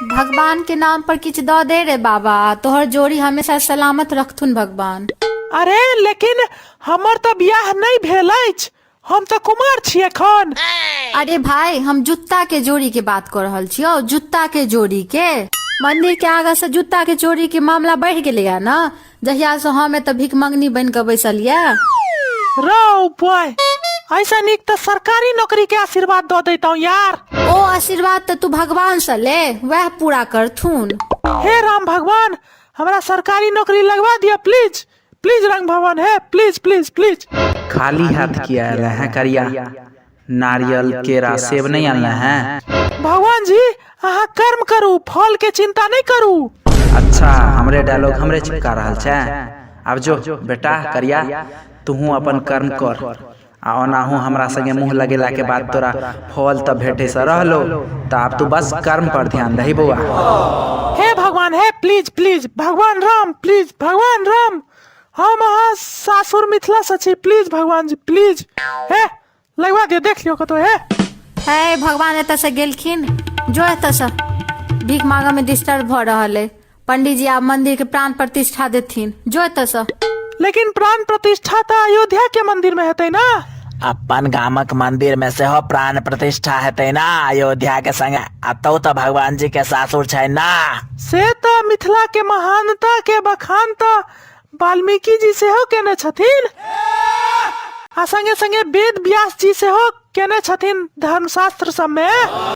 भगवान के नाम पर किछु दऽ दे रे बाबा तोहर जोड़ी हमेशा सलामत रखथुन भगवान अरे लेकिन हमर तऽ बियाह नहि भेल अछि हम तऽ कुमार छी एखन अरे भाई हम जूता के जोड़ी के बात कर रहल छियो जूता के जोड़ी के मंदिर के आगा से जूता के जोड़ी के मामला बढ़ गेलै है ना जहिया से हम एतऽ भिकमंगनी बनि कऽ बैसल यऽ रौ बॉय ऐसा नीक तऽ सरकारी नौकरी के आशीर्वाद दऽ दैतौ यार ओ आशीर्वाद तऽ तू भगवान से ले वएह पूरा करथुन हे राम भगवान हमरा सरकारी नौकरी लगवा दिया प्लीज प्लीज रंग भवन है प्लीज प्लीज प्लीज खाली हाथ किया आयल है करिया नारियल केरा सेब नहीं आनना है भगवान जी अहाँ कर्म करू फल के चिंता नहीं करू अच्छा हमरे डायलॉग हमरे चिपका रहल छै आब जो बेटा करिया तूहूँ अपन कर्म कर आ ओनाहू हमरा संगे मुँह लगेला के बाद तोरा फल तऽ भेटे से रहलो तऽ आब तू बस कर्म पर ध्यान दही बौआ हे भगवान हे प्लीज प्लीज भगवान राम प्लीज भगवान राम हम अहाँ सासुर मिथिला से छी प्लीज भगवान जी प्लीज हे लगवा दियो देख लियो कतो हे हे भगवान एतऽ से गेलखिन जो एतऽ से भीख मांगऽ में डिस्टर्ब भऽ रहल है पंडित जी आब मंदिर के प्राण प्रतिष्ठा देथिन जो एतऽ से लेकिन प्राण प्रतिष्ठा तऽ अयोध्या के मंदिर में हेतै ना अपन गामक मंदिर में सेहो प्राण प्रतिष्ठा हेतै ना अयोध्या के संगे अतौ तऽ भगवान जी के सासुर छै ना से तऽ मिथिला के महानता के बखान तऽ वाल्मीकि जी सेहो केने छथिन आ संगे संगे वेद व्यास जी सेहो केने छथिन धर्मशास्त्र सब में